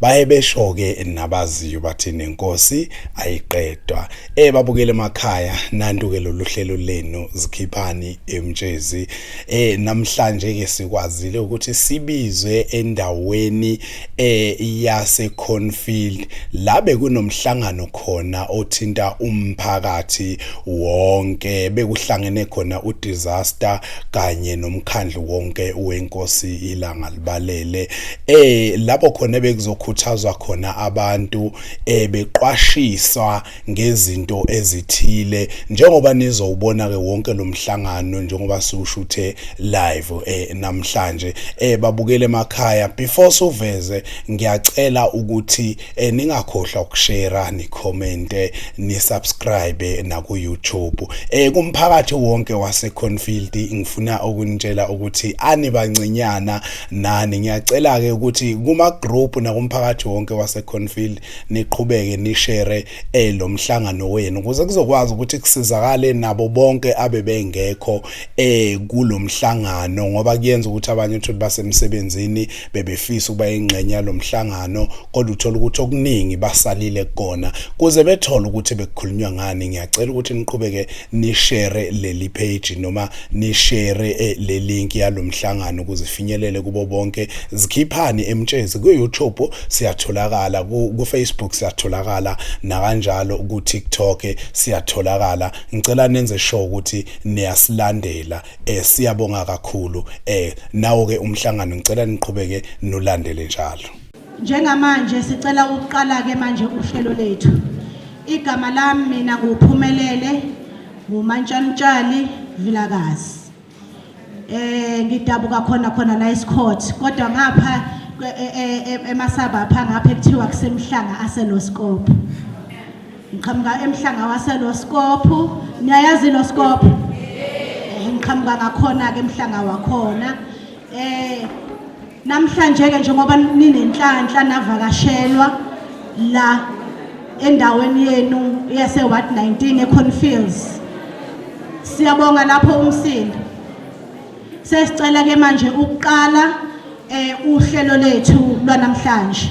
baye besho-ke nabaziyo bathi nenkosi ayiqedwa eh babukele emakhaya nantu-ke lolu hlelo lenu zikhiphani emtshezi eh namhlanje-ke sikwazile ukuthi sibizwe endaweni eh yaseconfield la bekunomhlangano khona othinta umphakathi wonke bekuhlangene khona udisaster kanye nomkhandlu wonke wenkosi ilanga balele eh lapho khona bekuzokhuthazwa khona abantu eh beqwashiswa ngezinto ezithile njengoba nizowubona ke wonke lomhlangano njengoba siwushuthe live eh namhlanje eh babukele emakhaya before suveze ngiyacela ukuthi eh, ningakhohlwa ukushare ni comment ni subscribe na ku YouTube eh kumphakathi wonke wase Cornfield ngifuna ukunitshela ukuthi ani bancinyana nani ngiyacela ke ukuthi kuma group na kumphakathi wonke wase Cornfield niqhubeke ni share eh lo mhlangano wenu ukuze kuzokwazi ukuthi kusizakale nabo bonke abebengekho eh kulomhlangano ngoba kuyenza ukuthi abanye uthi basemsebenzini bebefisa ukuba ingxenye yalomhlangano kodwa uthola ukuthi okuningi basalile kona kuze bethole ukuthi bekukhulunywa ngani ngiyacela ukuthi niqhubeke nishare leli page noma nishare eh, le link yalomhlangano ukuze ifinyelele kubo bonke zikhiphani emtshezi ku YouTube siyatholakala ku Facebook siyatholakala nakanjalo ku TikTok siyatholakala ngicela nenze sure ukuthi niyasilandela eh siyabonga kakhulu eh nawo ke umhlangano ngicela niqhubeke nolandele njalo njengamanje sicela ukuqala ke manje uhlelo lethu igama lami mina kuphumelele ngumantshanitshali vilakazi eh ngidabuka khona khona la eScourt kodwa ngapha e, e, e, emasabapha ngapha ekuthiwa kusemhlanga aseloskopo Ngiqhamuka emhlanga waseLoskophu. Niyayazi iLoskophu? Eh ngiqhamuka ngakhona ke emhlanga wakhona. Eh namhlanje ke njengoba ninenhlanhla navakashelwa la endaweni yenu yase Ward 19 eConfields. Siyabonga lapho umsindo. Sesicela ke manje ukuqala eh uhlelo lethu lwanamhlanje.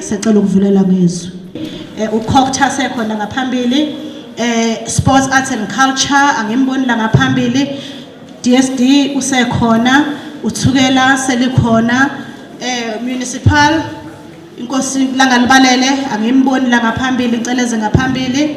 sacela ukuvulela ngezwi eh, ukhokhtha sekhona ngaphambili eh sports arts and culture angimboni la ngaphambili DSD usekhona uthukela selikhona eh municipal inkosi langalibalele angimboni la ngaphambili ngicela eze ngaphambili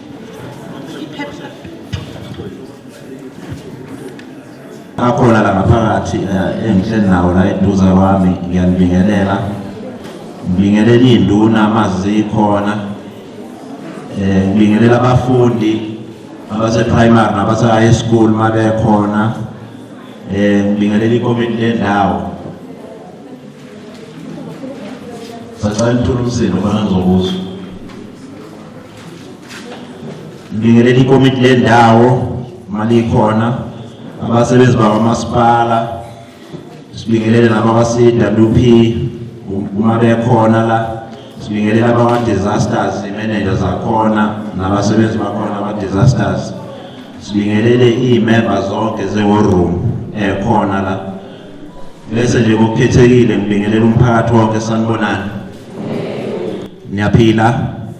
akhona la ngaphakathi eh, engihleli nawo la eduza kwami ngiyanibingelela ngibingelela iy'nduna amazikhona um eh, ngibingelela abafundi abase-primary nabase-high school uma bekhona um eh, ngibingelela ikomiti lendawo sacela nithula umsindo khona ngizokuzwa Ngibingelela ikomiti lendawo malikhona abasebenzi bakwamasipala sibingelele laba base-WP uma bekhona la sibingelela abakwa-disasters imeneja zakhona nabasebenzi bakhona aba-disasters sibingelele iy'memba zonke ze-war room ekhona la bese nje kokukhethekile ngibingelela umphakathi wonke sanibonani niyaphila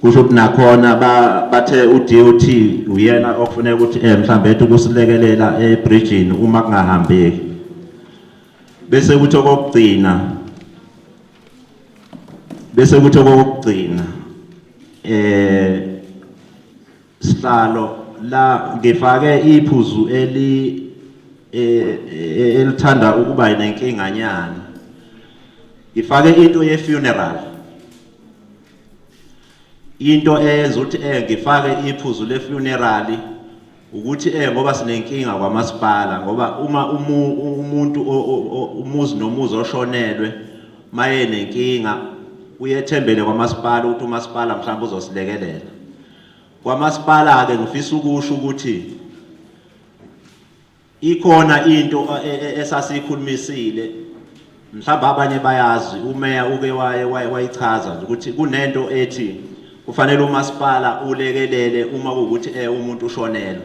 kusho ukuthi nakhona bathe uDOT uyena ofuneka ukuthi eh mhlambe ethi ukusilekelela ebridgini uma kungahambeki bese kuthi okokugcina bese kuthi okokugcina eh sihlalo la ngifake iphuzu eli eh, eh, elithanda ukuba nenkinganyana ngifake into ye funeral into eyenza ukuthi eh ngifake iphuzu le funeral ukuthi eh ngoba sinenkinga kwamasipala ngoba uma umuntu umuzi nomuzi oshonelwe maye nenkinga uyethembele kwamasipala ukuthi umasipala mhlawumbe uzosilekelela kwamasipala ke ngifisa ukusho ukuthi Ikhona into e, e, esasiyikhulumisile mhlawumbe abanye bayazi umeya uke waye wayichaza nje ukuthi kunento ethi kufanele umasipala ulekelele uma kuwukuthi eh umuntu ushonela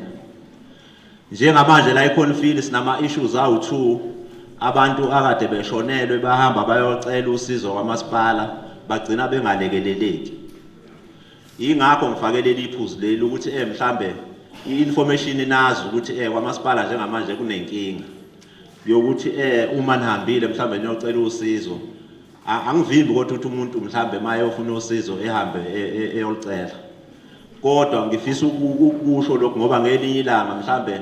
njengamanje la iConfield sinama issues awu 2 abantu akade beshonelwe bahamba bayocela usizo kwamasipala bagcina bengalekeleleki Yingakho ngifake leli phuzu leli ukuthi eh mhlambe i-information inazi ukuthi eh kwamasipala njengamanje kunenkinga yokuthi eh uma nihambile mhlambe niyocela usizo angivimbi kodwa ukuthi umuntu mhlambe maye ofuna usizo ehambe e, e, eyolicela kodwa ngifisa ukusho lokho ngoba ngelinye ilanga mhlambe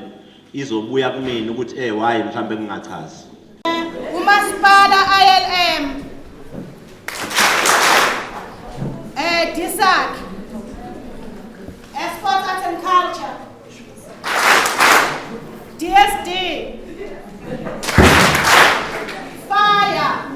izobuya kumina ukuthi eh why mhlambe kungachazi umasipala ILM eh DSAC Esport Arts and Culture DSD Fire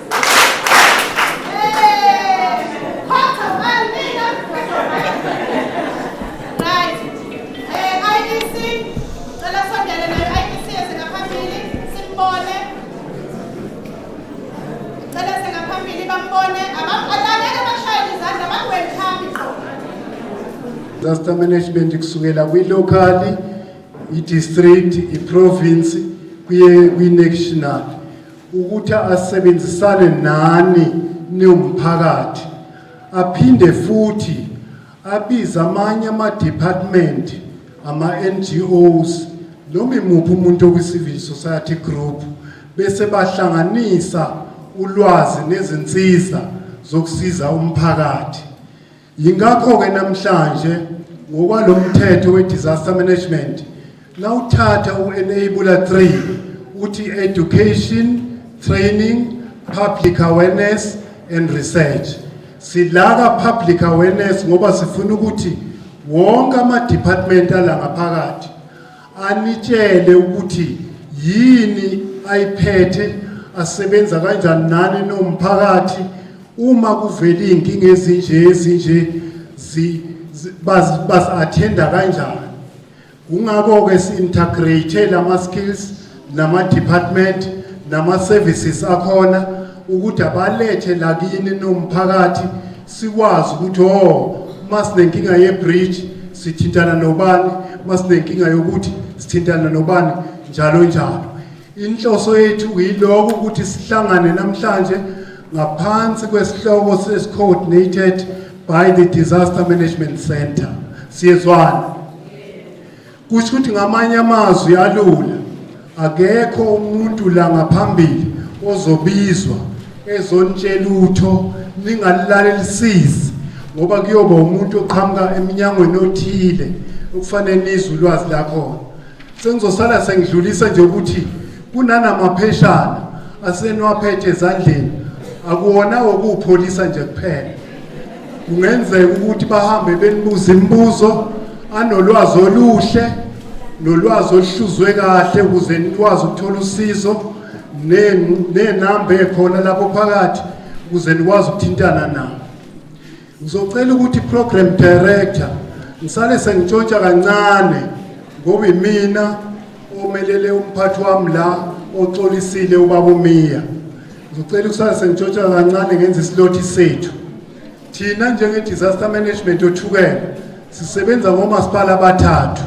disaster management kusukela kwilocally i-district i-province kuye kwi-national ukuthi asebenzisane nani niwumphakathi aphinde futhi abize amanye ama-department ama-ngos noma imuphi umuntu okwi-civil society group bese bahlanganisa ulwazi nezinsiza zokusiza umphakathi Yingakho-ke namhlanje ngokwalo mthetho we-disaster management nawuthatha u-enabler 3 uthi education training public awareness and research silaka public awareness ngoba sifuna ukuthi wonke ama-department ala ngaphakathi anitshele ukuthi yini ayiphethe asebenza kanjani nani nomphakathi uma kuvela iy'nkinga ezinje ezinje bazi-athenda kanjani kungakho-ke si-integrate-e lama-skills nama department nama services akhona ukuthi abalethe lakini nomphakathi sikwazi ukuthi oh masinenkinga ye bridge sithintana nobani masinenkinga yokuthi sithintana nobani njalo njalo inhloso yethu yiloko ukuthi sihlangane namhlanje ngaphansi kwesihloko sesicoordinated by the disaster management center siyezwana kusho ukuthi ngamanye amazwi alula akekho umuntu la ngaphambili ozobizwa ezonitshela utho ningalalelisisi ngoba kuyoba umuntu oqhamuka eminyangweni othile okufanele nizwe ulwazi lakhona sengizosala sengidlulisa nje ukuthi kunanamapheshana aseniwaphethe ezandleni akuwona wokupholisa nje kuphela kungenzeka ukuthi bahambe benibuza imibuzo anolwazi oluhle nolwazi oluhluzwe kahle ukuze nikwazi ukuthola usizo nenamba ekhona lapho phakathi ukuze nikwazi ukuthintana nabo ngizocela ukuthi program director ngisale sengitshontsha kancane ngoba imina omelele umphathi wami la oxolisile ubaba umiya Ngicela ukusase ngitshotsha kancane ngenza isilothi sethu. Thina njenge disaster management othukela sisebenza ngomasipala abathathu.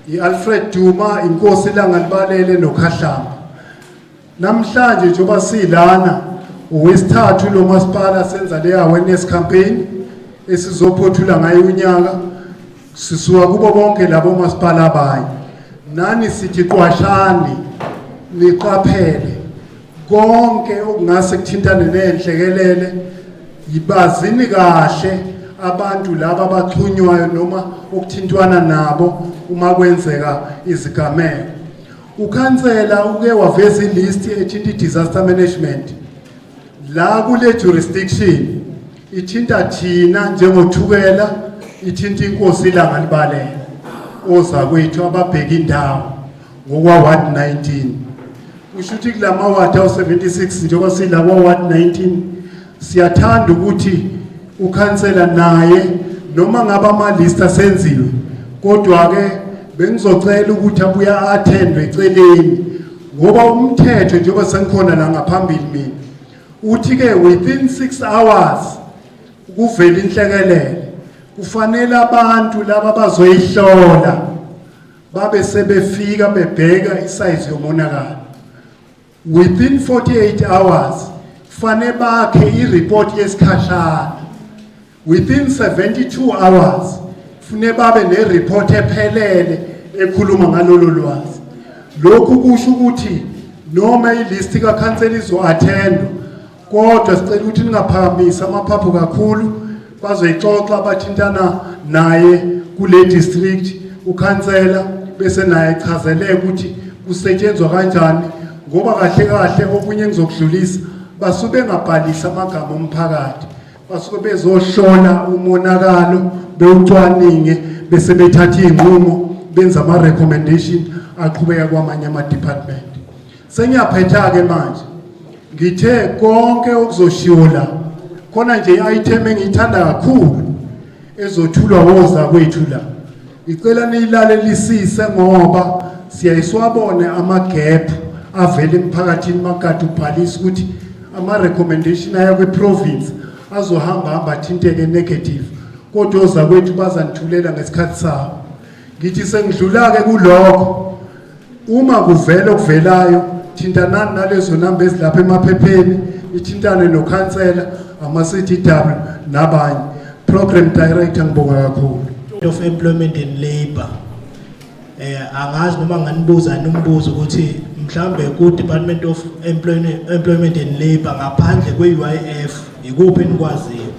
I-Alfred Duma, inkosi Langalibalele noKhahlamba. Namhlanje njengoba silana uwesithathu lo masipala senza le awareness campaign esizophothula ngayo unyaka Sisuka kubo bonke labo masipala abanye. Nani sithi qwashani niqaphele konke okungase kuthintane nenhlekelele yibazini kahle abantu laba abaxhunywayo noma okuthintwana nabo uma kwenzeka izigameko ukhansela uke waveza ilist ethinta i-disaster management la kule jurisdiction Ithinta thina njengothukela, ithinta inkosi ilanga libalele. Ozakwethu ababheka indawo ngokwa ward 19. Kusho ukuthi kulama ward awu 76 njengoba sila kwa ward 19 siyathanda ukuthi ukhansela naye noma ngabe amalista senziwe kodwa ke bengizocela ukuthi abuya attendwe eceleni ngoba umthetho njengoba sengikhona la ngaphambili mina Uthi ke within 6 hours kuvela inhlekelele kufanele abantu laba bazoyihlola babe sebefika bebheka isize yomonakalo within 48 hours fanele bakhe ireport yesikhashana Within 72 hours fune babe nereport ephelele ekhuluma ngalolu lwazi. Lokhu kusho ukuthi noma ilist kakhansela izo-attendwa kodwa sicela ukuthi ningaphakamisi amaphaphu kakhulu bazoyixoxa bathintana naye kule district ukhansela bese naye echazeleke ukuthi kusetshenzwa kanjani ngoba kahle kahle okunye engizokudlulisa basuke bengabhalisi amagama omphakathi basuke bezohlola umonakalo bewucwaninge bese bethatha iy'nqumo benza ama-recommendation aqhubeka kwamanye ama-department sengiyaphetha-ke manje ngithe konke okuzoshiwo la khona nje i-item engiyithanda kakhulu ezothulwa woza kwethu la Ngicela niyilalelisise ngoba siyayiswabone ama-gap avela emphakathini makade ubhalisa ukuthi ama-recommendation aya kwi-province azohamba hamba athinteke negative kodwa ozakwethu bazanithulela ngesikhathi sabo ngithi sengidlula-ke kulokho Uma kuvela okuvelayo, thintanani nalezo namba ezilapha emaphepheni, ithintane nokhansela, ama-CDW nabanye. Program Director ngibonga kakhulu. Of Employment and Labour. Eh angazi noma nganibuza nombuzo ukuthi mhlambe ku Department of Employment Employment and Labour ngaphandle kwe UIF ikuphi enikwaziyo?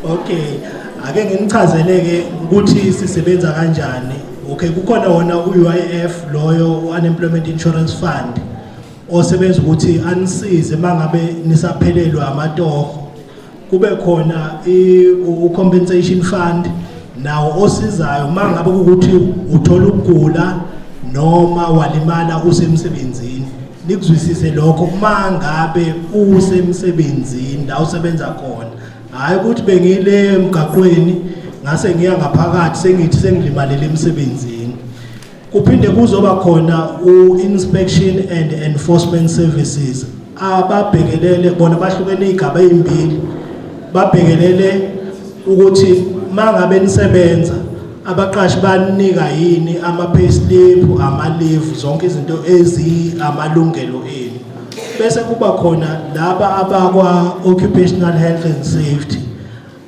Okay, ake nginichazeleke ukuthi sisebenza kanjani. Okay, kukhona wona uUIF loyo uUnemployment Insurance Fund osebenza ukuthi anisize mangabe nisaphelelwa amatoho kube khona u-compensation fund nawo osizayo uma ngabe ukuthi uthola ukugula noma walimala usemsebenzini nikuzwisise lokho uma ngabe usemsebenzini la usebenza khona hhayi ukuthi bengile emgaqweni ngase ngiya ngaphakathi sengithi sengilimale lemsebenzini Kuphinde kuzoba khona u-inspection and enforcement services ababhekelele bona bahlukene igaba ezimbili babhekelele ukuthi mangabe nisebenza abaqashi banika yini ama payslip ama leave zonke izinto ezi amalungelo enu bese kuba khona laba abakwa occupational health and safety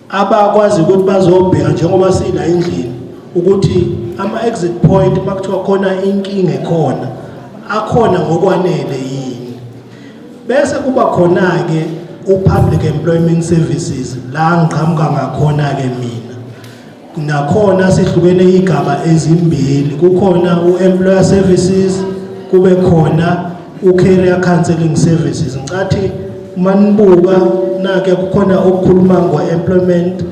abakwazi ukuthi bazobheka njengoba sila endlini ukuthi ama-exit point uma kuthiwa khona inkinga ekhona akhona ngokwanele yini bese kuba khona-ke u-public employment services la ngiqhamuka ngakhona-ke mina nakhona sihlukene iy'gaba ezimbili kukhona u-employer services kube khona uCareer Counseling Services ngicathi uma nibuka nake kukhona okukhuluma ngo-employment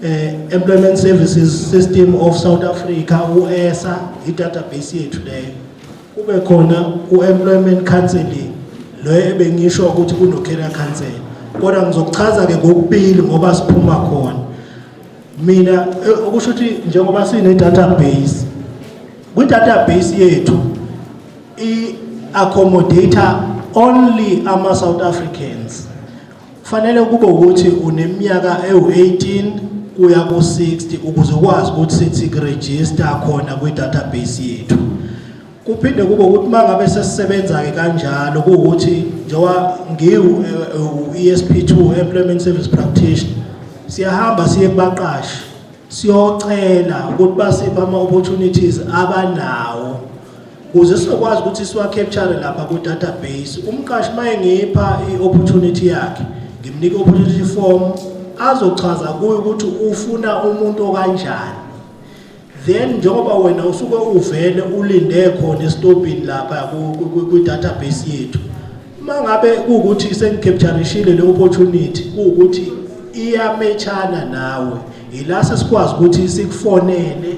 eh, employment services system of south africa u-esa i-database yethu leyo kube khona u-employment counseling loyo ebengisho ukuthi kuno-career counseling kodwa ngizokuchaza-ke ngokubili ngoba siphuma khona mina eh, okusho ukuthi njengoba sine-database kwi-database yethu i-accommodator only ama-south africans kufanele kube ukuthi uneminyaka ewu-18 kuya ku-60 ukuze ukwazi ukuthi sithi kurejista khona kwi-database yethu kuphinde kube ukuthi uma ngabe sesisebenza-ke kanjalo kuwukuthi njengoba ngiwu-esp eh, eh, 2 employment service practitioner siyahamba siye kubaqashi siyocela ukuthi basiphe ama-opportunities abanawo Kuze sizokwazi ukuthi siwa-capture lapha ku-database, umqashi uma engipha i-opportunity yakhe, ngimnika i-opportunity form, azochaza kuyo ukuthi ufuna umuntu okanjani. Then njengoba wena usuke uvele ulinde khona esitobhini lapha kwi-database yethu, uma ngabe kuwukuthi sengicapturishile le opportunity kuwukuthi iyametshana nawe, yila sesikwazi ukuthi sikufonele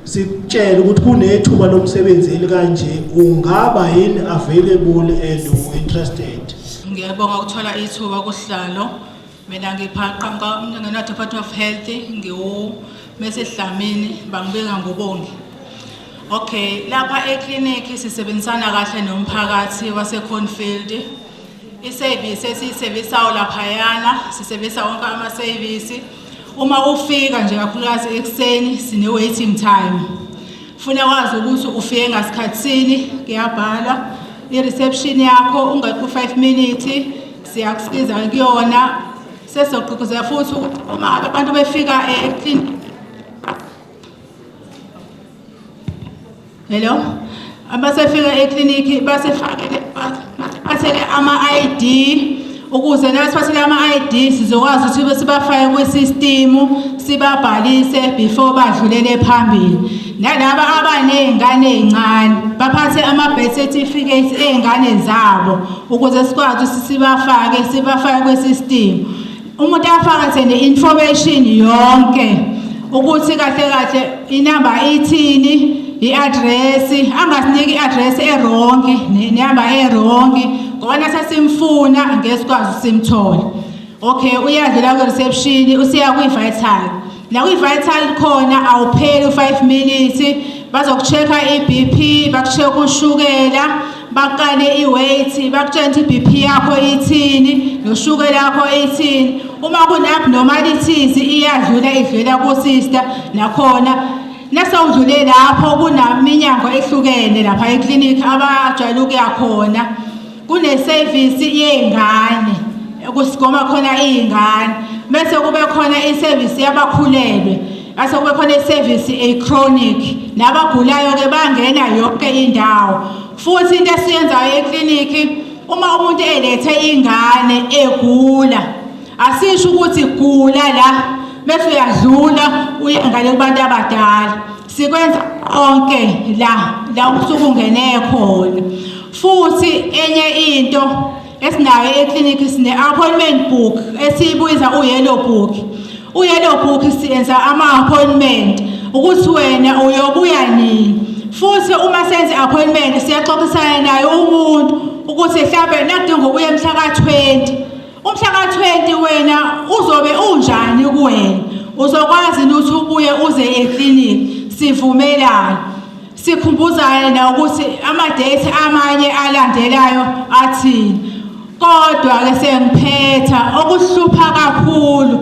sikutshele ukuthi kunethuba lomsebenzi elikanje ungaba yini available and interested ngiyabonga ukuthola ithuba kuhlalo mina ngiphaqa ngingena department of health ngiwu mesedlamini bangibeka ngobongi okay lapha eclinic sisebenzisana kahle nomphakathi waseconfield isevisi esiyisevisayo laphayana sisevisa wonke amasevisi Uma ufika nje kakhulukazi ekuseni sine waiting time. Funa wazi ukuthi ufike ngasikhatsini kuyabhala i reception yakho ungakho 5 minutes siyakusiza kuyona sesogqugquzela futhi uma abantu befika e Hello. Abasefika eklinikhi basefakele bathele ama-ID ukuze nasiphathele ama-ID sizokwazi ukuthi sibafake kwi-system sibabhalise before badlulele phambili nalaba abaney'ngane ey'ncane baphathe ama-birth certificate ey'ngane zabo ukuze sikwazi ukuthi sibafake sibafake kwi-system umuntu afakathe ne-information yonke ukuthi kahle kahle inamba ithini i-adresi angasiniki i-adresi erongi nehamba erongi ngoba nasesimfuna ngesikwazi simthole okay uyadlula kwi-reception usiya kwi-vital nakwi-vital khona awupheli u-five minutes bazoku-check-a i-bp baku-check ushukela baqale i-weight bakutshela ukuthi i-bp yakho ithini noshukela yakho ithini uma kune-abnormalities iyadlula idlula kusista nakhona nasewudlule lapho kunaminyango ehlukene lapha eklinikhi abajwayele ukuya khona kunesevisi yey'ngane kusigoma khona iy'ngane bese kube khona isevisi yabakhulelwe base kube khona isevisi echronic nabagulayo-ke bangena yonke indawo futhi into esiyenzayo eklinikhi uma umuntu elethe ingane egula asisho ukuthi gula la bese uyadlula uye ngale kubantu abadala sikwenza konke la la usuke ungene khona futhi enye into esinayo eclinic sine-appointment book esiyibuyiza u-yellow book u-yellow book siyenza ama-appointment ukuthi wena uyobuya nini futhi uma senze appointment siyaxoxisana naye umuntu ukuthi mhlawumbe nakudinga ukuya emhla ka-20 Umhlaka 20 wena uzobe unjani kuwena? Uzokwazi ukuthi ubuye uze eclinic sivumelana. Sikhumbuzane na ukuthi ama date amanye alandelayo athini. Kodwa ke sengiphetha okuhlupha kakhulu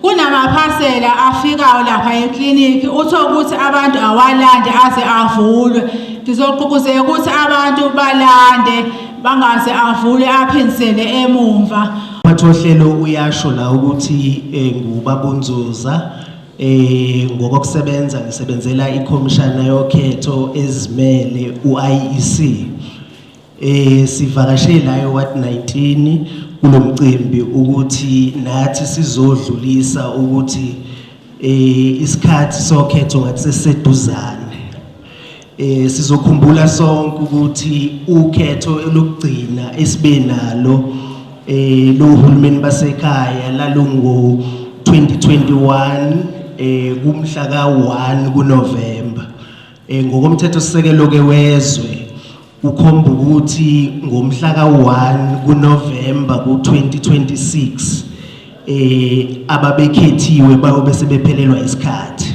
kunamaphasela afikayo lapha eklinikhi uthe ukuthi abantu awalande aze avulwe ngizoqhuquzeka ukuthi abantu balande bangaze avule aphindisele emumva Mathohlelo uyasho la ukuthi eh, ngubabunzuza eh ngokokusebenza ngisebenzela ikhomishana yokhetho ezimele uIEC eh sivakashe la eWard 19 kulomcimbi ukuthi nathi sizodlulisa ukuthi eh isikhathi sokhetho ngathi seseduzana Eh sizokhumbula sonke ukuthi ukhetho elokugcina esibenalo eh lo hulumeni basekhaya lalungu 2021 eh kumhla ka 1 kuNovember eh ngokomthetho sisekelo ke wezwe ukhomba ukuthi ngomhla ka 1 kuNovember ku 2026 eh ababekhethiwe bayobe sebephelelwa isikhathi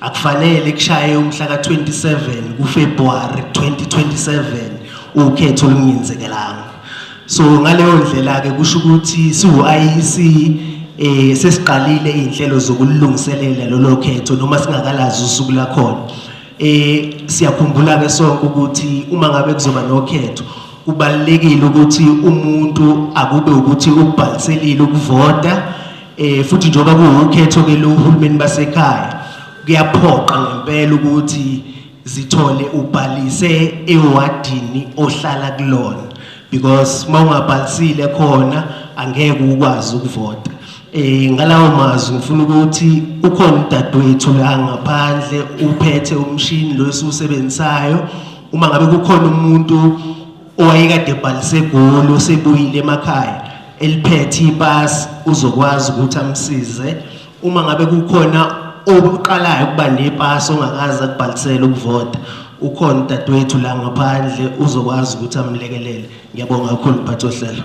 Akufanele kushaye umhla ka-27 kuFebruary 2027 ukhetho olungenzekelanga. So ngaleyo ndlela-ke kusho ukuthi siwu-IEC eh sesiqalile izinhlelo zokulungiselela lolo khetho noma singakalazi usuku lakhona. Eh siyakhumbula ke sonke ukuthi uma ngabe kuzoba nokhetho kubalekile ukuthi umuntu akube ukuthi ubhaliselile ukuvota Eh futhi njengoba kuwukhetho ke lo uhulumeni basekhaya kuyaphoqa ngempela ukuthi zithole ubhalise ewadini ohlala kulona because mawungabhalisile khona angeke ukwazi ukuvota eh ngalawo mazwi ngifuna ukuthi ukhona udadewethu la ngaphandle uphethe umshini lo esiwusebenzisayo uma ngabe kukhona umuntu owayekade ebhalise egoli usebuyile emakhaya eliphethe ipasi uzokwazi ukuthi amsize uma ngabe kukhona obuqalayo ukuba nepasi ongakaze akubhalisele ukuvota ukhona udadewethu la ngaphandle uzokwazi ukuthi amlekelele ngiyabonga kakhulu mphathi ohlelo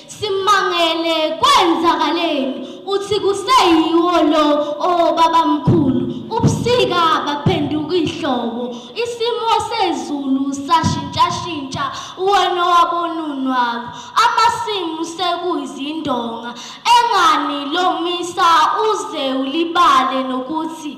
Simangele kwenzakaleni uthi kuseyiwo lo obabamkhulu ubusika baphenduka ihlobo isimo sezulu sashintshashintsha wena wabonunwabo amasimu sekuyizindonga engani lomisa uze ulibale nokuthi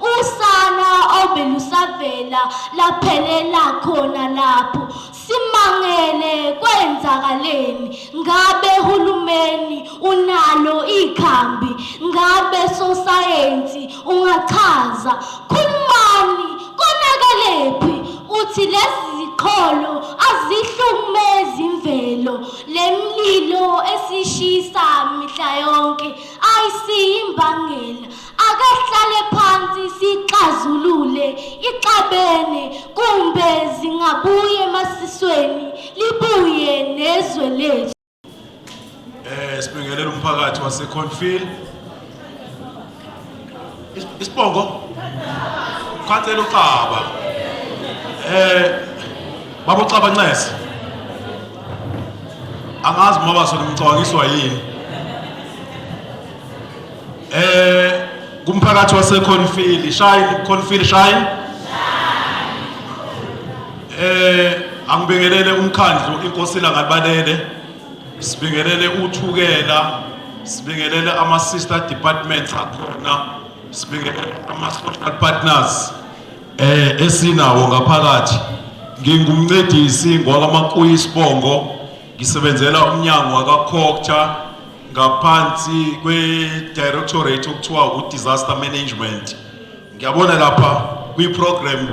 Usana obelusavela laphelela khona lapho simangele kwenzakaleni ngabe hulumeni unalo ikhambi ngabe sosayensi ungachaza khulumani konakelephi uthi lezi ziqholo azihlumezi imvelo lemlilo esishisa mihla yonke ayisiyimbangela Akasihlale phansi sixazulule ixabene kumbe zingabuye emasisweni libuye nezwe lethu. Eh sibingelela umphakathi wase Cornfield. Isibongo. Khathela uxaba. Eh babo xaba ncese. Angazi mama baso nimcabangiswa yini. eh kumphakathi waseConfield shine Confield shine eh angibingelele umkhandlu inkosi langabalele sibingelele uthukela sibingelele ama sister departments akhona sibingelele ama social partners eh esinawo ngaphakathi ngingumncedisi ngwakamakuyi isibongo Ngisebenzela umnyango wakaCocta ngaphansi kwe-directorate okuthiwa u-disaster management. Ngiyabona lapha kwi-program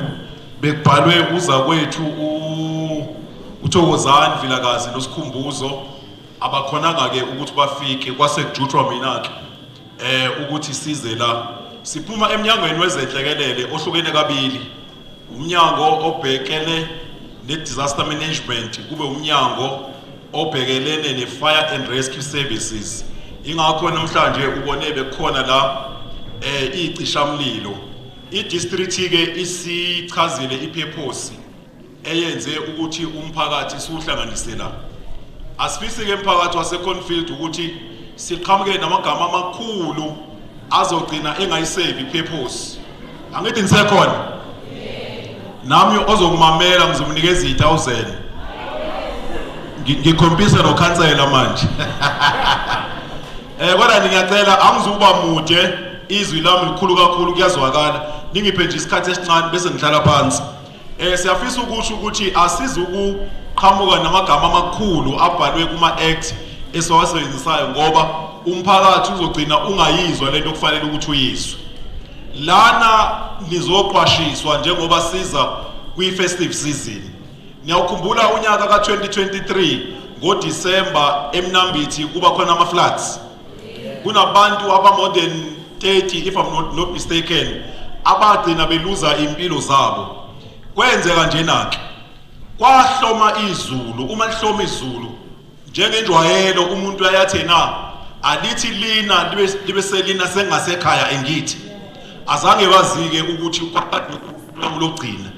bekubhalwe uza kwethu uthokozani vilakazi nosikhumbuzo abakhonanga-ke ukuthi bafike kwase kujutshwa mina-ke um ukuthi size la siphuma emnyangweni wezenhlekelele ohlukene kabili umnyango obhekele ne-disaster management kube umnyango obhekelene ne-fire and rescue services ingakho namhlanje ubone bekhona la eh icishamlilo i-district-ke isichazile iphephosi eyenze ukuthi umphakathi siwuhlanganise la asifisi-ke mphakathi waseconfield ukuthi siqhamuke namagama amakhulu azogcina engayisevi iphephosi angithi ngisekhona nami ozokumamela ngizomnikeza i-thousand ngikhompise nokhansela manje eh kodwa ngiyacela angizukuba mude izwi lami likhulu kakhulu kuyazwakala ningiphe nje isikhathi esincane bese ngihlala phansi Eh siyafisa ukusho ukuthi asizi ukuqhamuka namagama amakhulu abhalwe kuma act esiwasebenzisayo ngoba umphakathi uzogcina ungayizwa lento okufanele ukuthi uyizwe. Lana nizoqwashiswa njengoba siza kwi festive season. Niyawukhumbula unyaka ka 2023 ngoDisemba eMnambithi kuba khona ama floods. kunabantu abamore than 30 if I'm not, not mistaken abagcina beluza impilo zabo kwenzeka njena-ke kwahloma izulu uma lihloma izulu njengenjwayelo umuntu ayathi na alithi lina libe selina sengasekhaya engithi azange bazike ukuthi lokugcina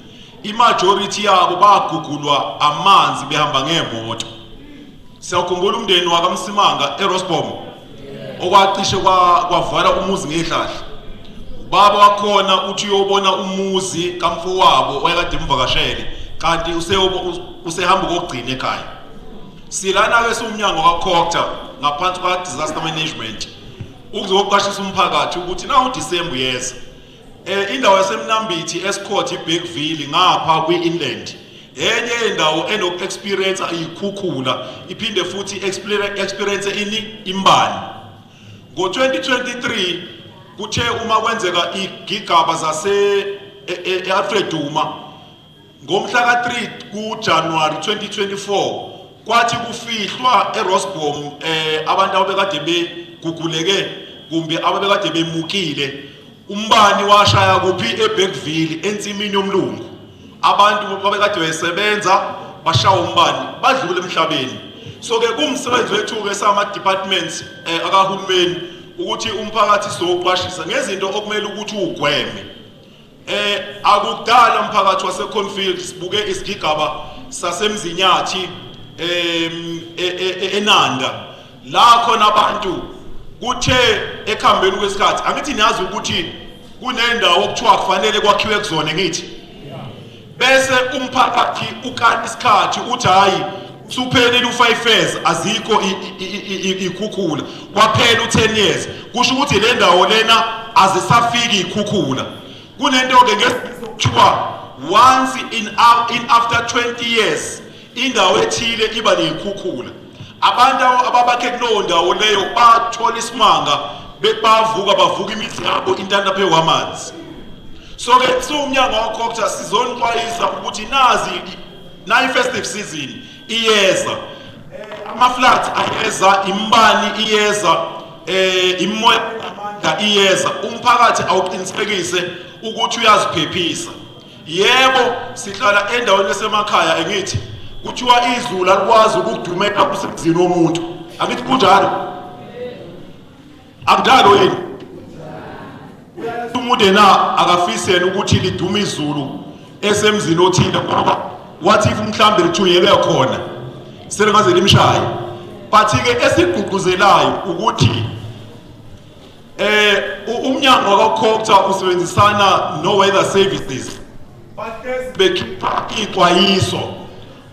imajority yabo bagugulwa amanzi behamba ngemoto siyakhumbula umndeni wakamsimanga erosbom okwacishe kwavala umuzi ngehlahla ubaba wakhona uthi uyobona umuzi kamfowabo oyekade emvakashele kanti usehamba ukogcina ekhaya silana-ke siwumnyango kacockta ngaphansi kwa-disaster management ukuzoqashisa umphakathi ukuthi na udisemba uyeza Eh indawo yaseMnambithi eScourt iBigville ngapha kwi-Inland enye yendawo enoku-experience iyikhukhula iphinde futhi experience ini imbani ngo-2023 kuthe uma kwenzeka igigaba zase e-alfred e, e, duma Ngomhla ka-3 kuJanuwari 2024 kwathi kufihlwa eRosbom eh abantu ababekade beguguleke kumbe ababekade bemukile umbani washaya kuphi eBergville ensimini yomlungu abantu babekade besebenza bashawa umbani badlule emhlabeni so ke kumsebenzi wethu ke sama departments eh, akahulumeni ukuthi umphakathi sizoqwashisa ngezinto okumele ukuthi ugweme Eh akudala umphakathi waseConfield sibuke isigigaba saseMzinyathi em e, e, e, eNanda la khona abantu kuthe ekhambeni kwesikhathi angithi niyazi ukuthi kunendawo okuthiwa kufanele kwakhiwe kuzona ngithi bese umphakathi ukala isikhathi uthi hhayi usuphelile u-five years azikho ikhukhula kwaphela u-ten years kusho ukuthi le ndawo lena azisafiki ikhukhula kunento-ke ngekuthiwa once in, in after 20 years indawo ethile iba neyikhukhula Abantu ababakhe kulowo ndawo leyo bathola isimanga bebavuka bavuka imithi yabo intanda phezu kwamanzi so ke siwumnyango wakhokutha sizonixwayisa ukuthi nazi nayi-festive season iyeza ama-flat ayeza imbani iyeza eh immoya amandla iyeza umphakathi awuqinisekise ukuthi uyaziphephisa yebo sihlala endaweni esemakhaya engithi kuthiwa izulu alikwazi ukudumela kusemzini womuntu angithi kunjalo akudalo yini umuntu yena akafisele ukuthi lidume izulu esemzini othile ngoba wathi if mhlawumbe lithunyelwe khona selingaze limshaye but-ke esigqugquzelayo ukuthi Eh umnyango wakwaCopter usebenzisana noWeather Services bahlezi bekhipha ixwayiso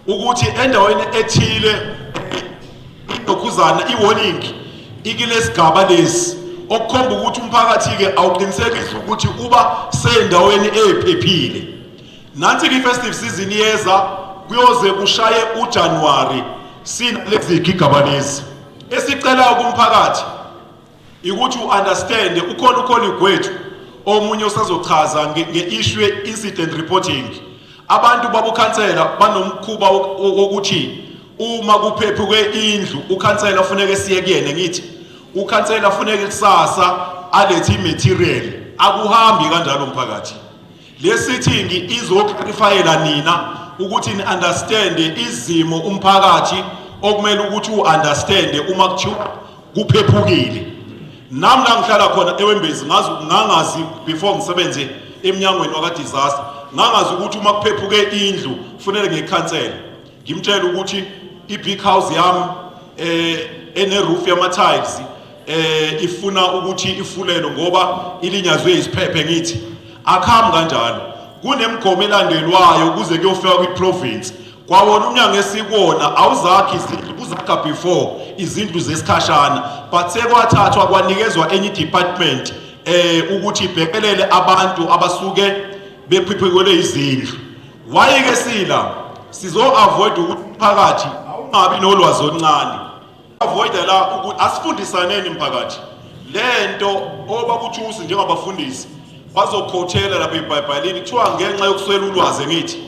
ukuthi endaweni ethile idokhuzana i-warning ikilesigaba lesi okukhomba ukuthi umphakathi-ke awuqinisekise ukuthi uba seyindaweni eyiphephile nansi-ke i-festive season yeza kuyoze kushaye ujanuwari sinalezi gigaba lezi esicelayo kumphakathi ikuthi u-understande ukhona ukholi gwethu omunye usazochaza nge-issue ye-incident reporting abantu babukhansela banomkhuba wokuthi uma kuphephuke indlu ukhansela funeke siye kuyena ngithi ukhansela funeke kusasa alethe imaterial akuhambi kanjalo mphakathi Le sitting izoclarifyela nina ukuthi ni understand izimo umphakathi okumele ukuthi u understand uma kuthiwa kuphephukile nami la ngihlala khona ewembezi ngazi ngangazi before ngisebenze emnyangweni waka disaster ngangazi ukuthi uma kuphephuke indlu kufanele ngekhansela ngimtshela ukuthi i-big house yami eh eneroof yama-tiles eh ifuna ukuthi ifulelwe ngoba ilinyazwe isiphephe ngithi akhambi kanjalo kunemigomo elandelwayo kuze kuyofika kwi-province kwawona umnyango esikwona awuzakhi izindlu kuzakha before izindlu zesikhashana but sekwathathwa kwanikezwa enye idepartment eh ukuthi ibhekelele abantu abasuke bephiphekelwe izindlu Why ke sila sizo avoid ukuphakathi ungabi nolwazi oluncane. Avoid la ukuthi asifundisaneni mphakathi. Lento obakuthusi njengabafundisi bazokhothela lapha eBhayibhelini kuthiwa ngenxa yokuswela ulwazi ngithi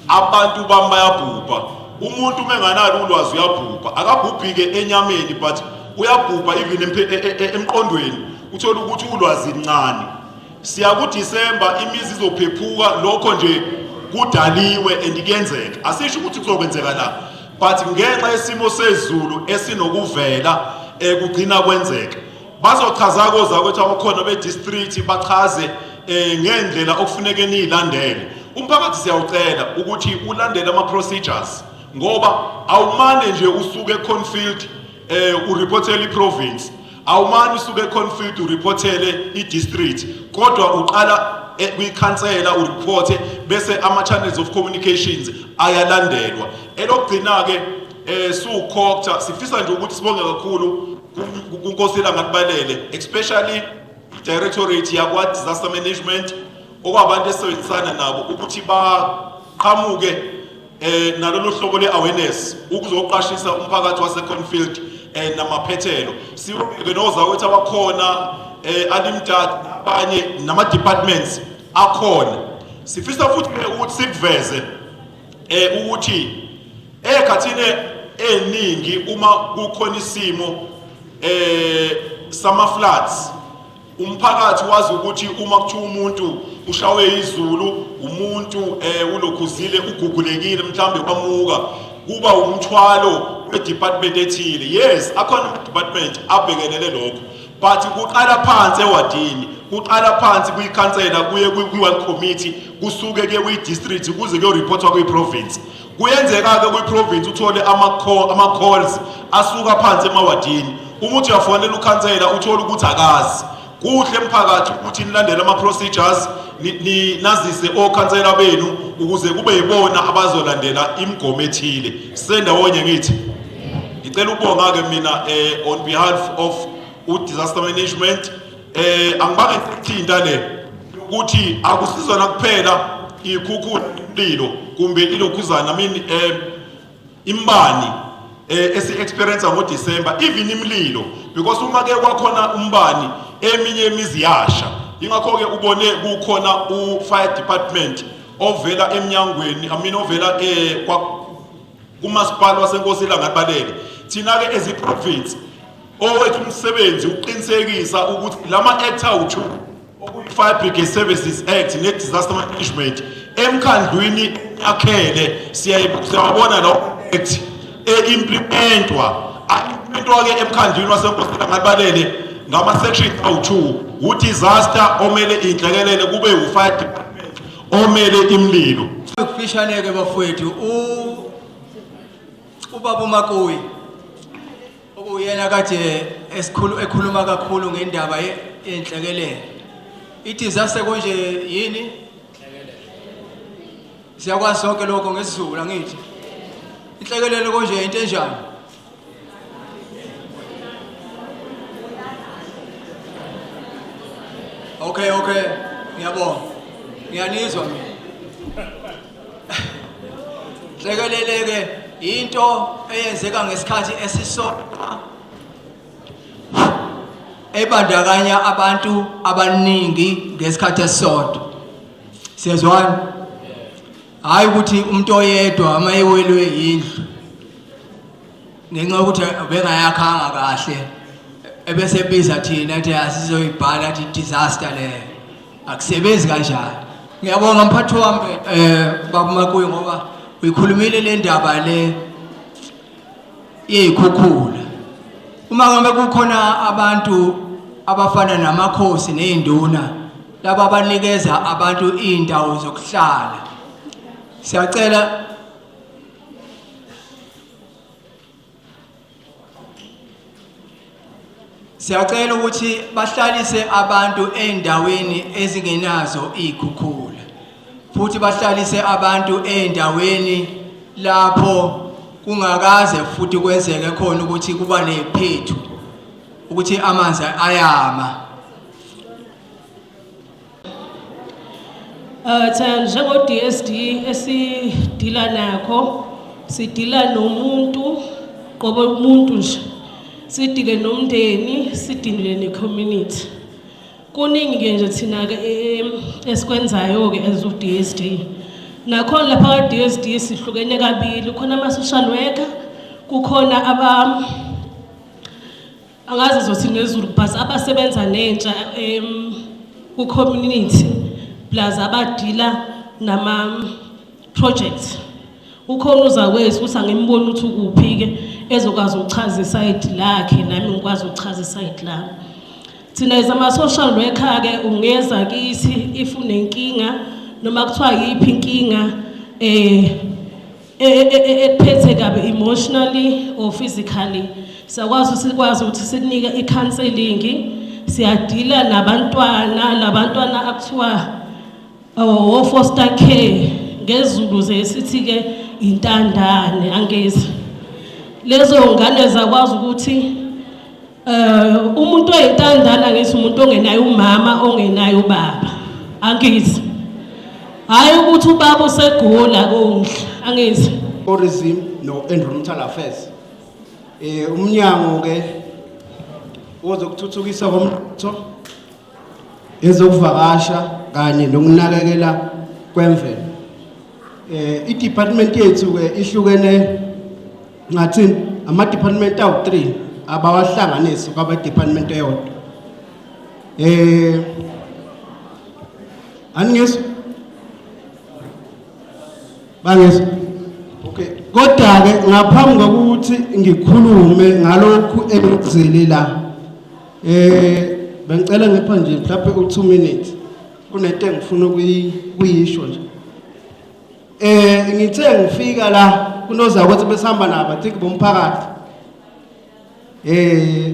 abantu bami bayabhubha. Umuntu uma enganalo ulwazi uyabhubha. Akabhubhike enyameni but uyabhubha even e, e, e, emqondweni. Uthola ukuthi ulwazi lincane. Siya kuDisemba imizi izophephuka lokho nje kudaliwe and kuyenzeka. Asisho ukuthi kuzokwenzeka la. But ngenxa yesimo sezulu esinokuvela ekugcina eh, kwenzeka. Bazochaza koza ukuthi abakhona be district bachaze eh, ngendlela okufuneke nilandele. Umphakathi siyawucela ukuthi ulandele ama procedures ngoba awumane nje usuke eConfield eh ureportela iprovince awumane usuke econfield ureportele i-district kodwa uqala eh, kwikhansela ureporte bese ama-channels of communications ayalandelwa elokugcina-ke um siwukhokta sifisa nje ukuthi sibonge kakhulu kunkosi elangakubalele especially i-directorate yakwa-disaster management okwabantu esisebenzisana nabo ukuthi baqhamuke eh nalolu hlobo le-awareness ukuzoqashisa umphakathi waseconfield um eh, namaphethelo siwubeke nozakwethu abakhona um alimtati abanye nama-departments akhona sifisa futhi ukuthi sikuveze um ukuthi ekhathini eningi uma kukhona isimo um sama-floods Umphakathi wazi ukuthi uma kuthiwa umuntu ushawe izulu umuntu eh ulokhuzile ugugulekile mhlambe kwamuka kuba umthwalo wedepartment ethile yes akhona department abhekelele lokho but kuqala phansi ewadini kuqala phansi kuyikhansela kuye kwi-one committee kusuke ke kwi-district kuze kuyoreportwa kwi-province Kuyenzeka-ke kwiprovinsi uthole ama-calls asuka phansi emawadini. Uma uthi uyafonela ukhansela uthole ukuthi akazi. Kuhle emphakathi ukuthi nilandele ama-procedures nazise okhansela benu ukuze kube yibona abazolandela imigomo ethile. Sisendawonye ngithi. Ngicela ukubonga-ke mina eh, on behalf of u-disaster management Eh angibange ngithinta le ukuthi akusizona kuphela ikhukhu lilo kumbe ilokhuzana I mean eh imbani eh esi experience ngo December even imlilo because uma ke kwakhona umbani eminye imizi yasha ingakho ke ubone kukhona u fire department ovela emnyangweni I mean ovela eh kwa kumasipala wasenkosi ilangabalele thina-ke as i-province owethu umsebenzi ukuqinisekisa ukuthi la ma-act awu-two okuyi-fire brigade services act ne-disaster management emkhandlwini akhele siyawabona lawo act e-implementwa impintwa-ke emkhandlwini wasenkosina ngabalele ngama-section awu-two wudisaster omele inhlekelele kube wu-fire department omele imlilo kufishane ke bafowethu u ubaba uMakuyi okuyena kade esikhulu ekhuluma kakhulu ngendaba yenhlekelele ithi zase konje yini siyakwazi sonke lokho ngesizulu angithi inhlekelele konje into enjani Okay, okay. Ngiyabonga. Ngiyanizwa mina. Hlekeleleke into eyenzeka ngesikhathi esisodwa ebandakanya abantu abaningi ngesikhathi esisodwa. Siyezwana? hhayi ukuthi umuntu oyedwa uma ewelwe indlu ngenxa yokuthi bengayakhanga kahle ebese biza thina ethi asizoyibhala athi disaster leyo akusebenzi kanjani ngiyabonga mphathi wami um eh, babumakuyi ngoba uyikhulumile le ndaba le yeyikhukhula uma ngabe kukhona abantu abafana namakhosi nezinduna laba abanikeza abantu izindawo zokuhlala siyacela Siyacela ukuthi bahlalise abantu endaweni ezingenazo izikhukhula futhi bahlalise abantu endaweni lapho kungakaze futhi kwenzeke khona ukuthi kuba neziphethu ukuthi amanzi ayama Uh, cha njengo-DSD esidila nakho sidila nomuntu qobo umuntu nje sidile nomndeni sidile ne-community kuningi-ke nje thina-ke eh, esikwenzayo-ke as u-DSD nakhona lapha ka-DSD sihlukene kabili khona ama-social worker kukhona aba angazi zothi nezulu but abasebenza nentsha um ku-community plus abadila nama-project ukhona uzakwethu ukuthi angimboni ukuthi ukuphi-ke ezokwazi ukuchaza isayidi lakhe nami ngikwazi ukuchaza isayidi lami thina as ama-social worker-ke ungeza kithi if unenkinga noma kuthiwa yiphi inkinga um e, e, e, ekuphethe kabi emotionally or physically sakwazi sikwazi ukuthi sikunike i-counseling siyadila nabantwana labantwana akuthiwa oh, wo foster care ngezulu ze sithi ke intandane angezi lezo ngane zakwazi ukuthi Eh umuntu oyintandana ngithi umuntu ongenayo umama ongenayo ubaba. Angithi. Hayi ukuthi ubaba usegula konke. Angithi. Tourism no environmental affairs. Eh umnyango ke ozokuthuthukisa komtho ezokuvakasha kanye nokunakekela kwemvelo eh i-department yethu ke ihlukene ngathi ama-department awu-3 abawahlanganisi kwaba-department eyodwa eh aningizwa bangizwa okay kodwa-ke ngaphambi kokuthi ngikhulume ngalokhu engikuzele la Eh bengicela ngipha nje mhlawumbe u2 minutes kunento engifuna ukuyisho nje. Eh ngithe ngifika la kunoza ukuthi besihamba nabo I think bomphakathi. Eh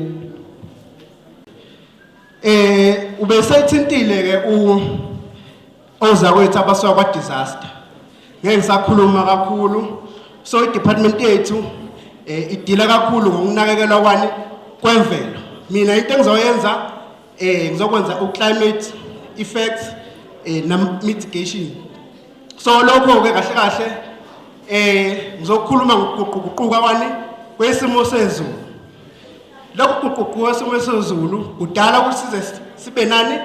eh ubesethintile ke u Ozakwethu abasuka kwa disaster. Ngeke ngisakhuluma kakhulu. So i department yethu eh idila kakhulu ngokunakekelwa kwani kwemvelo. Mina into engizoyenza eh ngizokwenza u climate effects eh na mitigation. So lokho ke kahle kahle eh ngizokhuluma ngokuquququka kwani kwesimo sezulu. Lokhu kuququka kwesimo sezulu kudala ukuthi size sibe nani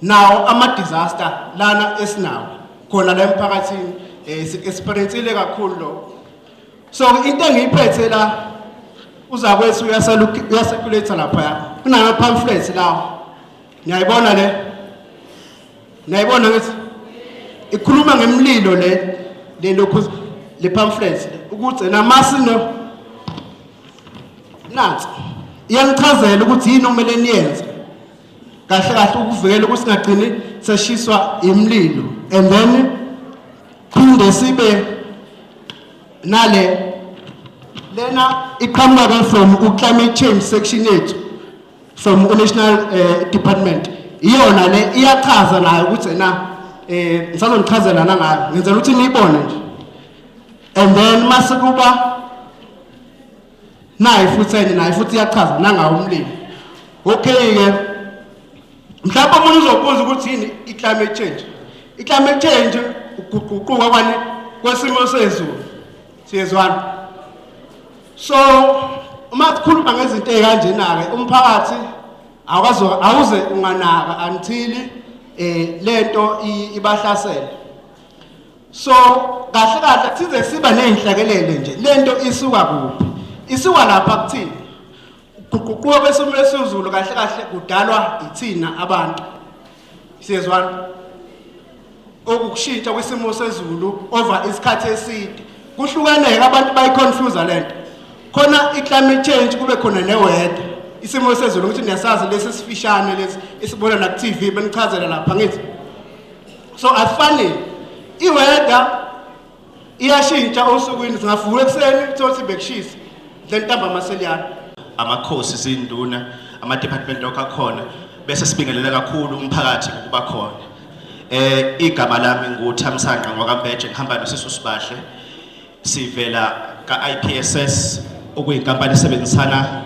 nawo ama-disaster lana esinawo khona la emphakathini um eh, si-experiencile kakhulu lokho so into engiyiphethe la uzakwethu uyaseculatha laphaya kunama-pamphlet lawo niyayibona le niyayibona ngithi ikhuluma ngemlilo le le lokhu le pamphlet ukuthi namasino nansi iyangichazela ukuthi yini okumele niyenze kahle kahle ukuvikela ukuthi singagcini seshiswa imlilo and then phinde sibe nale lena iqhamuka from u-climate change section yethu from u-national uh, department iyona le iyachaza nayo ukuthi na eh ngisazonichazela nangayo ngenzela ukuthi niyibone nje and then masekuba naye futhi enye naye futhi iyachaza nangawo umlimi okay-ke mhlawumbe omunye uzobuza ukuthi yini i-climate change i-climate change ukuguquka kwani kwesimo sezulu siyezwana so uma sikhuluma ngezinto ey'kanjena-ke umphakathi awukaze awuze unganaka until eh lento ibahlasela so kahle kahle size siba nezinhlakelele nje lento isuka kuphi isuka lapha kuthini kuguquka kwesimo lesizulu kahle kahle kudalwa yithina abantu siyezwana okukushintsha kwisimo sezulu over isikhathi eside kuhlukaneke abantu bayiconfuse lento khona iclimate change kube khona neweather isimo sezulu ukuthi niyasazi lesi sifishane lesi isibona na ku TV benichazela lapha ngithi so afanele iweather iyashintsha osukwini singavuka ekuseni thothi bekushisa lentamba amaseliyana amakhosi izinduna ama department lokho akhona bese sibingelela kakhulu umphakathi ukuba khona eh igama lami nguThamsanqa ngwakaMbeje ngihamba nosisi uSibahle Sivela ka-IPSS okuyinkampani esebenzisana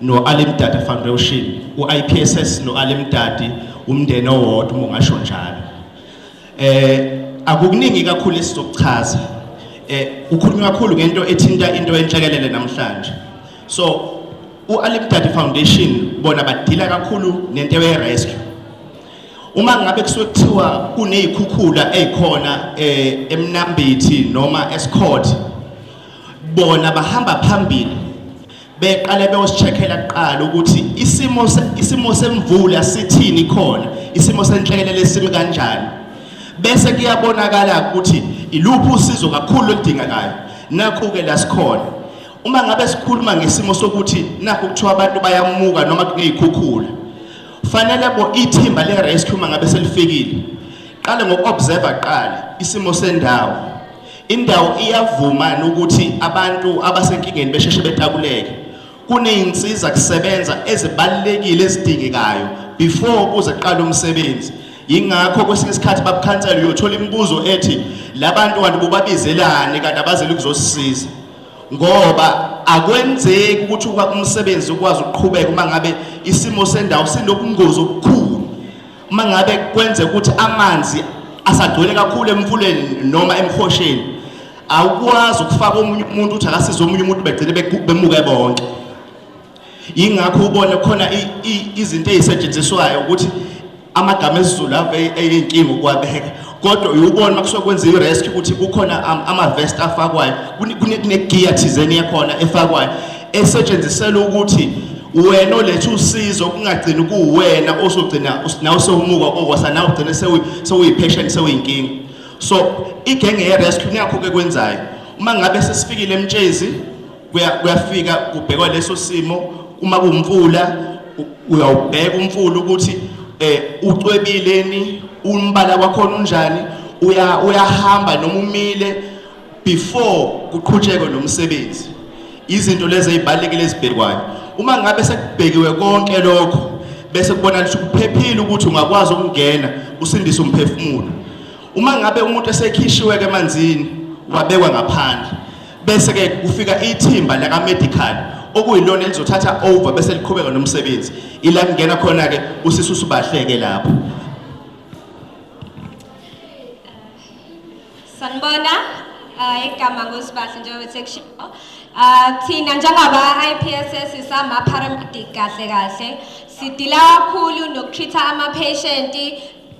no-Alimdadi Foundation. U-IPSS no-Alimdadi umndeni owodwa uma ungasho njalo. Eh akukuningi kakhulu esizokuchaza. Eh ukhuluma kakhulu ngento ethinta into enhlekelele namhlanje. So u-Alimdadi Foundation bona badila kakhulu nento ye-rescue. Uma ngabe kusuke kuthiwa kunezikhukhula ezikhona eh, eMnambithi noma eSikhot bona bahamba phambili beqale beyosicheckela kuqala ukuthi isimo isimo semvula sithini khona isimo senhlekelele lesimi kanjani bese kuyabonakala ukuthi iluphi usizo kakhulu oludingekayo nakho ke la sikhona uma ngabe sikhuluma ngesimo sokuthi nakho kuthiwa abantu bayamuka noma kunezikhukhula Fanele bo ithimba le rescue mangabe selifikile. Qale ngokuobserve qale isimo sendawo. Indawo iyavuma ukuthi abantu abasenkingeni besheshe betakuleke. Kuneyinsiza kusebenza ezibalekile ezidingekayo before kuze qala umsebenzi. Yingakho kwesinye isikhathi babukhansela uyothola imibuzo ethi labantu kanti bobabizelani kanti abazeli kuzosisiza. ngoba akwenzeki ukuthi umsebenzi ukwazi ukuqhubeka uma ngabe isimo sendawo sinobungozi obukhulu uma ngabe kwenze ukuthi amanzi asagcwele kakhulu emfuleni noma emhosheni awukwazi ukufaka omunye umuntu ukuthi akasize omunye umuntu begcine bemuke bonke yingakho ubone khona izinto ezisetshenziswayo ukuthi amagama esiZulu ave eyinkinga ukuwabeka kodwa uyubona uma kusuke kwenza i-rescue ukuthi kukhona ama-vest afakwayo kunegiya thizeni yakhona efakwayo esetshenziselwa ukuthi wena oletha usizo kungagcini kuwena osogcina nawe sewumuka okwasa nawe ugcine sewuyiphesheni sewuyinkinga so igenge ye-rescue nakho-ke kwenzayo uma ngabe sesifikile emtshezi kuyafika kubhekwa leso simo uma kumfula uyawubheka umfula ukuthi eh ucwebileni umbala wakhona unjani uya uyahamba noma umile before kuqhutshekwe nomsebenzi izinto lezi ezibalekile ezibhekwayo uma ngabe sekubhekiwe konke lokho bese kubona ukuthi kuphephile ukuthi ungakwazi ukungena usindise umphefumulo uma ngabe umuntu esekhishiwe ke emanzini wabekwa ngaphandle bese ke kufika ithimba laka medical okuyilona elizothatha over bese liqhubeka nomsebenzi ila kungena khona ke usisi usubahleke lapho sanibona uh, igama ngosibahle njengoba sekushiwo uh, thina njengaba-ipss isama-paramedic kahle kahle sidila kakhulu nokutreat-a ama-patient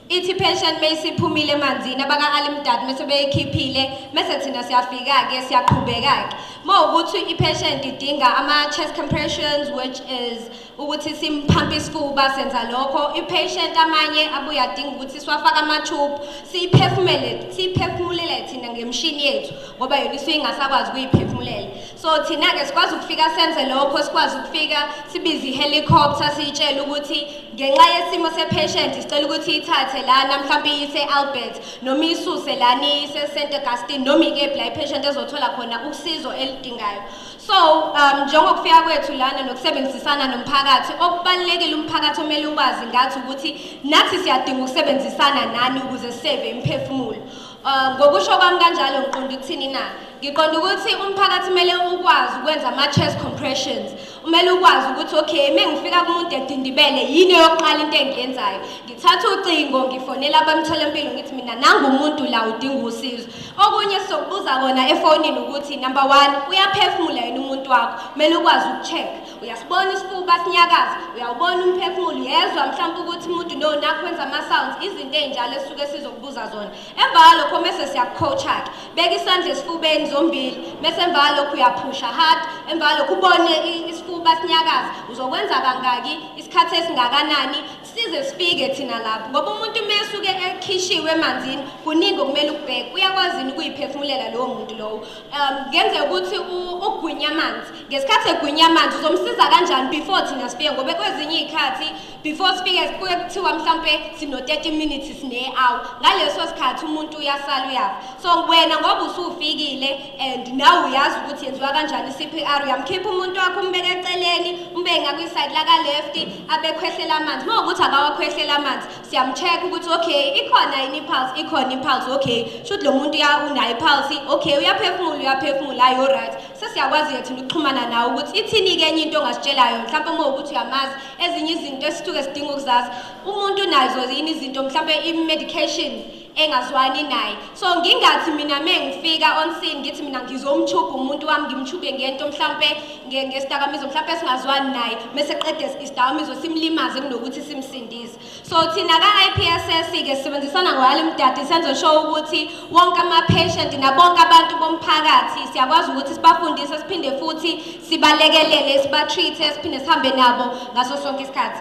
ithi pension meyisiphumile emanzini abaka-alimdad mese beyikhiphile mese thina siyafika-ke siyaqhubeka-ke uma ukuthi i-pension idinga ama-chest compressions which is ukuthi simphampe isifuba senza lokho i-patient amanye abuye adinga ukuthi siwafake amathubu siyiphefumulele thina ngemishini yethu ngoba yona isuke ingasakwazi ukuyiphefumulela so thina-ke sikwazi ukufika senze lokho sikwazi ukufika sibize i-helicopter siyitshele ukuthi ngenxa yesimo sepatient sicela ukuthi ithathe lana mhlawumbe iyise albert noma isuse lana iyise st augustine noma ikephi la ipatient ezothola khona usizo elidingayo so um njengokufika kwethu lana nokusebenzisana nomphakathi okubalulekile umphakathi omele ukwazi ngathi ukuthi nathi siyadinga ukusebenzisana nani ukuze siseve imiphefumulo um ngokusho kwami kanjalo ngiqonda ukuthini na ngiqonda ukuthi umphakathi kumele ukwazi ukwenza ama-chest compressions kumele ukwazi ukuthi okay uma ngifika kumuntu edindibele yini yokuqala into engiyenzayo ngithatha ucingo ngifonela abamtholampilo ngithi mina nangumuntu la udinga usizo okunye sizokubuza kona efonini ukuthi number one uyaphefumula yini umuntu wakho kumele ukwazi uku-check uyasibona isifuba sinyakaza uyawubona umphefumulo uyezwa mhlawumpe ukuthi umuntu no nakho wenza ama-sounds izinto ey'njalo esuke sizokubuza zona emva kwalokho mese siyakucoacha-ke beka isandla esifubeni zombili mese emva kwalokho uyaphusha hard emva kwalokho ubone isifuba sinyakaza uzokwenza kangaki isikhathi esingakanani size sifike thina lapho ngoba umuntu uma esuke ekhishiwe emanzini kuningi okumele ukubheke uyakwazini ukuyiphefumulela lowo muntu lowo um kungenzeka ukuthi ugwinya amanzi ngesikhathi egwinya amanzi uzomsiza kanjani before thina sifike ngoba kwezinye iy'khathi before sifike kuke kuthiwa mhlampe sino 30 minutes sine hour ngaleso sikhathi umuntu uyasala uyafa so wena ngoba usufikile and nawe uyazi ukuthi yenziwa kanjani CPR uyamkhipha umuntu wakho umbeke eceleni umbeke ngakwi side la ka left abekhwehlela amanzi uma ukuthi akawakhwehlela amanzi siyamcheck ukuthi okay ikhona yini pulse ikhona impulse okay should lo muntu ya unayo pulse okay uyaphefumula uyaphefumula ayo right sesiyakwazi yethu ukuxhumana nawe ukuthi ithini ke enye into ongasitshela yona mhlawumbe uma ukuthi uyamazi ezinye izinto esithuke sidinga ukuzazi umuntu unazo yini izinto mhlawumbe i-medication engazwani naye so ngingathi mina me ngifika onsin ngithi mina ngizomtshubha umuntu wami ngimtshubhe ngento mhlawumpe ngesidakamizwa mhlawumpe singazwani naye mese qede isidakamizwa simlimaze kunokuthi simsindise So thina ka-IPSS ke sisebenzisana ngoyali mdadi senze sho ukuthi wonke ama-patient nabonke abantu bomphakathi siyakwazi ukuthi sibafundise siphinde futhi sibalekelele siba-treat-e siphinde sihambe nabo ngaso sonke isikhathi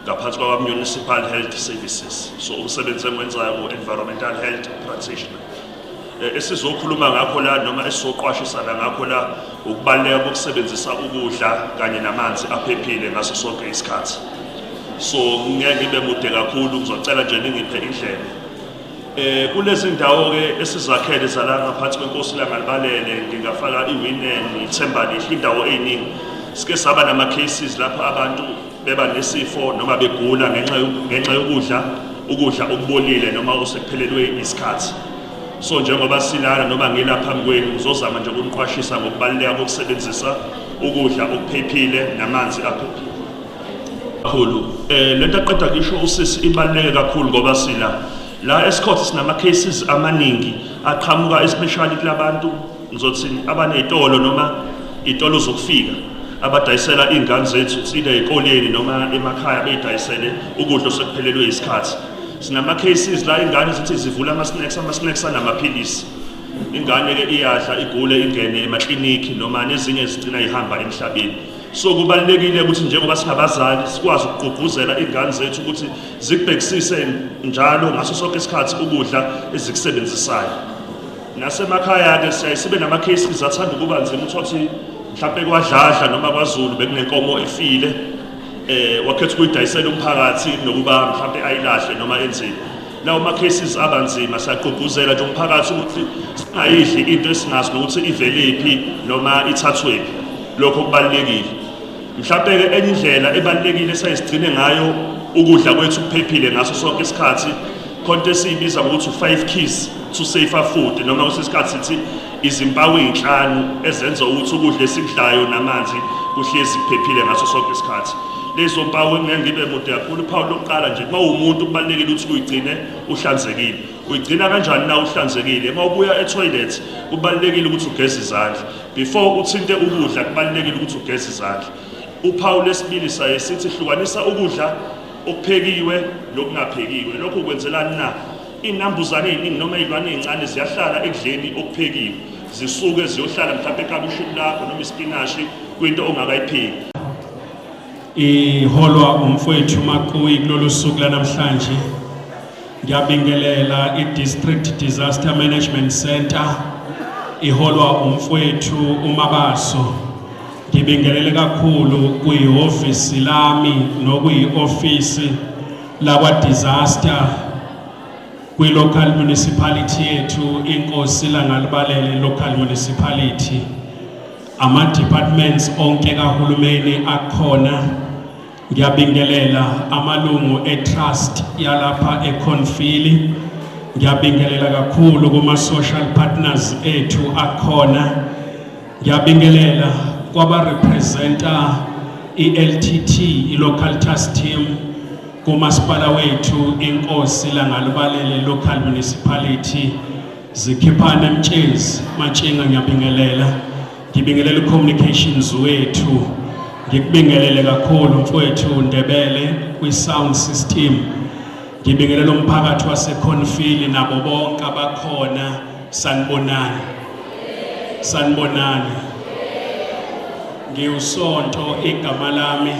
ngaphansi kwakwa-municipal health services so umsebenzi engiwenzayo ku-environmental health practitioner Eh, esizokhuluma ngakho la noma esizoqwashisana ngakho la ukubaluleka kokusebenzisa ukudla kanye namanzi aphephile ngaso sonke isikhathi so ngeke ngibe mude kakhulu ngizocela nje ningiphe indlela eh kulezi ndawo ke esizakhele zala ngaphansi kwenkosi langalibalele ngingafaka iwinen ithemba lihle indawo eyiningi sike saba nama cases lapho abantu beba nesifo noma begula ngenxa ngenxa yokudla ukudla okubolile noma osekuphelelwe isikhathi so njengoba silana noma ngila phambi kwenu uzozama nje ukuniqwashisa ngokubaluleka kokusebenzisa ukudla okuphephile namanzi aphephile kakhulu eh lento aqeda kusho usisi ibaluleke kakhulu ngoba sila la esikhothi sinama cases amaningi aqhamuka especially kulabantu ngizothi abaney'tolo noma iy'tolo zokufika abadayisela iy'ngane zethu kusile ey'koleni noma emakhaya beyidayisele ukudla osekuphelelwe isikhathi sinama-cases la ingane zithi zivula ama-snacks ama-snacks anamaphilisi ingane-ke iyadla igule ingene emaklinikhi noma nezinye zigcina ihamba emhlabeni so kubalulekile ukuthi njengoba singabazali sikwazi ukugqugquzela iy'ngane zethu ukuthi zikubhekisise njalo ngaso sonke isikhathi ukudla ezikusebenzisayo Nasemakhaya-ke siyaye sibe nama-cases athanda ukuba nzima uthole ukuthi mhlawumpe kwadladla noma kwazulu bekunenkomo efile eh wakhetha ukuyidayisela umphakathi nokuba mhlawumpe ayilahle noma enzini lawo ma-cases aba nzima siyagqugquzela nje umphakathi ukuthi singayidli into esinazi nokuthi iveliphi noma ithathwephi lokho kubalulekile Mhlawumbe-ke enye indlela ebalulekile esayisigcine ngayo ukudla kwethu kuphephile ngaso sonke isikhathi khonto esiyibiza ngokuthi u-five keys to safer food noma kwesinye isikhathi sithi izimpawu ey'nhlanu ezenza ukuthi ukudla esikudlayo namanzi kuhlezi kuphephile ngaso sonke isikhathi lezo mpawu engeke ngibe mude kakhulu uphawu lokuqala nje uma uwumuntu kubalulekile ukuthi uyigcine uhlanzekile uyigcina kanjani na uhlanzekile uma ubuya ethoyilethi kubalulekile ukuthi ugeze izandla Before uthinte ukudla kubalulekile ukuthi ugeze izandla. Uphawu lesibili saye sithi hlukanisa ukudla okuphekiwe nokungaphekiwe. Lokho kwenzelani na? Inambuzane eziningi noma izilwane ezincane ziyahlala ekudleni okuphekiwe. Zisuke ziyohlala mhlawumbe ekabishini lakho noma isipinashi kwinto ongakayipheki. Iholwa umfowethu Makuyi kulolu suku lanamhlanje. Ngiyabingelela i-District Disaster Management Center iholwa umfwethu uMabaso. Ngibingelele kakhulu kuyihhovisi lami nokuyi-ofisi lakwa-disaster kwi-local municipality yethu inkosi langalibalele local municipality ama-departments onke kahulumeni akhona Ngiyabingelela amalungu eTrust yalapha eConfili. Ngiyabingelela kakhulu kuma-social partners ethu akhona. Ngiyabingelela kwabarepresenta i-LTT, i-Local Trust Team, kumasipala wethu inkosi langalubalele local municipality zikhiphana emtshezi matshinga ngiyabingelela Ngibingelela ucommunications wethu. Ngikubingelele kakhulu mfowethu Ndebele kwi sound system. Ngibingelela umphakathi waseConfile nabo bonke abakhona sanibonani. Sanibonani. Ngiwusonto igama lami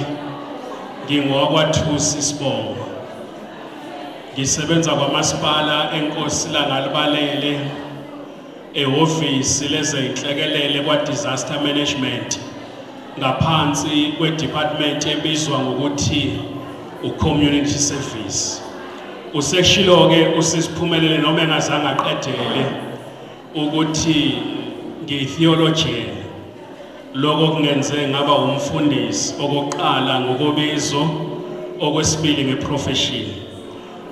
ngingowakwaThusi Sibongo. Ngisebenza kwamasipala eNkosi Langalibalele. ehhovisi lezenhlekelele kwa-disaster management ngaphansi kwedepartment ebizwa ngokuthi ucommunity service useshilo-ke usisiphumelele noma engazange aqedele ukuthi ngiyi-theologian lokho kungenze ngaba umfundisi okokuqala ngokobizo okwesibili ngeprofeshini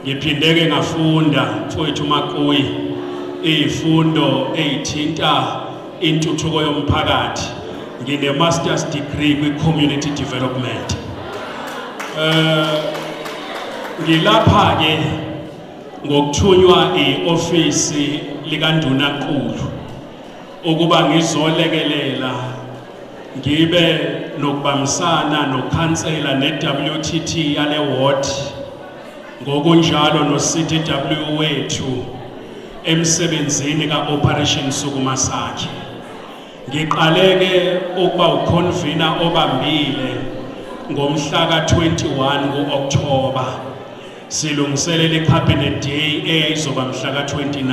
Ngiphindeke ngafunda mfowethu Makuyi izifundo ezithinta intuthuko yomphakathi. Ngine master's degree kwi community development. Eh ngilapha ke ngokuthunywa ioffice likanduna nkulu ukuba ngizolekelela ngibe nokubambisana nokhansela ne WTT yale ward ngokunjalo no-CDW wethu emsebenzini ka-Operation Sukuma Sakhe. Ngiqaleke ukuba ukhonvina obambile ngomhla ka-21 ku-Okthoba silungiselela i-Cabinet Day eyayizoba mhla ka-29.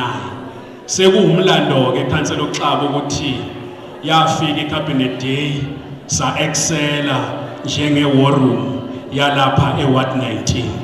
Sekuwumlando-ke ikhansela uXaba ukuthi yafika iCabinet Day sa-excela njenge-war room yalapha e-ward 19